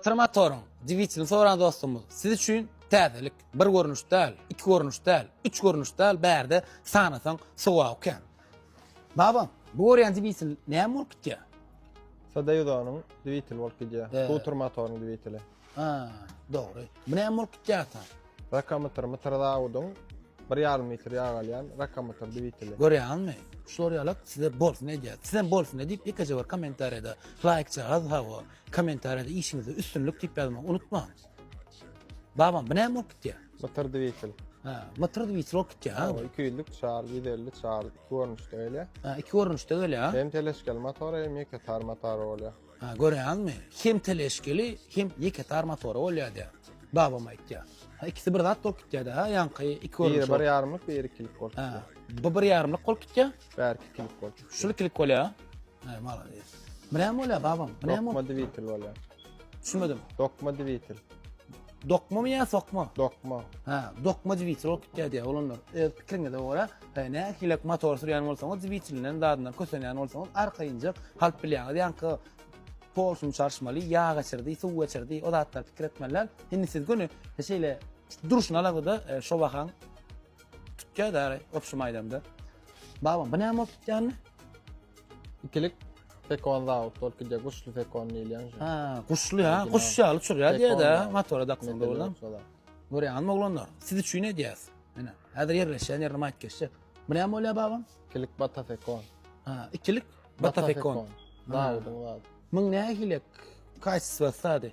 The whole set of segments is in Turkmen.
Trmatoryň dwitilini soran dostumyz siz üçin täzelik, bir görnüş däl, iki görnüş däl, üç görnüş däl bärde sanasaň sowaby kän. Baba, bu görýän dwitil näme bolup gitýär? Sodayuzonyň dwitili bolup gidýär. He. Bu trmatoryň dwitili. Ha, dogry. Bu näme bolup gitýär ata? Rakamytr, mytr zawudyň 1,5 litr ýag alýan rakamytr dwitili. Görýäňizmi? Şular ýalak size bolsun edýär. Siz hem bolsun edip ýekeje bir kommentariýada laýkjagaz hawa. Komentariýada işiňizde üstünlik diýip ýazmagy unutmaň. Babam, bu näme bolup gitýär? Mytyr dwitel. Ha, mytyr dwitel bolup gitýär ha. Hawa, 200 lik çar, 150 çar, iki görnüşde gelýär. Ha, iki görnüşde gelýär ha. Hem teleşkeli motor, hem ýeke tar motor bolýar. Ha, görýäňizmi? Hem teleşkeli, hem ýeke tar motor bolýar diýär. Babam aýtýar. Ha, ikisi bir zat bolup gitýär-de ha, ýaňky iki görnüşde. Biri bir ýarymlyk, biri ikilik bolup gitýär. Ha, bu bir ýarymlyk bolup gitýär. Bärki ikilik bolup gitýär. Şul ikilik bolýar. He, malades. Bu näme bolýar babam? Bu näme? Dokma dwitel bolýar. Düşünmedim. Dokma dwitel. Dokma mı ya sokma? Dokma. Ha, dokma dwitel olup gitýär diýär olanlar. Öz pikiriňize görä, he, nähilek motor sürýän bolsaňyz, dwitelinden dadyndan kösenýän bolsaňyz, arkaýynjak halp bilýäňiz. Ýaňky Porsche çarşmaly, ýa geçirdi, suw geçirdi, o zatlar pikir etmeliler. Indi siz göni şeýle durşuna alada, e, şo bahan Tutýa däri, opşum aýdamda. Babam, bu näme bolup tutýandy? Ikilik Fekon Zaut, bolup gidýär, guşly Fekon diýilýän. Ha, guşly ha, guş ýaly uçurýar diýä-de, motora daksaň dogrudan. Görýäňizmi oglanlar, siz üçin edýäs. Menä, häzir ýerleşýän ýerine maýyp geçse. Bu näme bolýar babam? Ikilik Bata Fekon. Ha, ikilik Bata Fekon. Zaudun, zaud. Muň nähili kaýsysy bassady?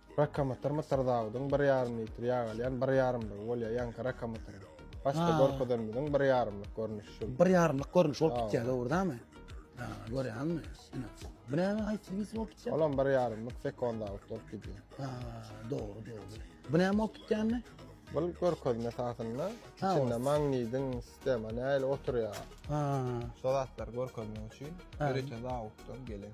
Rakamatlar Mysr Dawudyň bir ýarym litr ýag alýan bir ýarymlygy bolýar, ýaňky rakamatryň. Başda Ha. görkezenimiziň bir ýarymlyk görnüşi şu. Bir ýarymlyk görnüş bolup Sag gitýär, ol. dogrudanmy? Ha, görýäňmi? Ine. Bu näme haýsy birisi bolup gitýär? Olam bir ýarymlyk Fekon Dawud bolup gidýär. Ha, dogry, dogry. Bu näme bolup gitýär indi? Bu görkezme esasynda Ha, içinde ol. magnidiň sistema nähili oturýar. Ha. Şol zatlary görkezmek üçin Ha. ýörite Dawuddan gelen.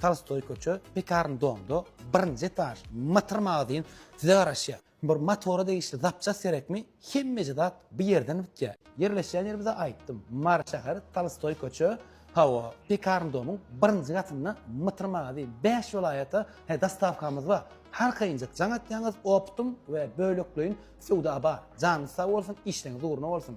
Tolstoý köçe, Pekarn domda, birinji etaž, motor magazin size garaşýar. Bir motora degişli zapçast gerekmi, hemmeje zat bu ýerden bitýär. Ýerleşýän ýerimizi aýtdym, Mary şäheri, Tolstoý köçe, hawa, Pekarn domyň birinji gatynda motor magazin, bäş welaýata he dostawkamyz bar. Har kynjak jaň atýaňyz, optum we bölekleýin söwda bar. Janyňyz sag bolsun, işleriňiz ugruna bolsun!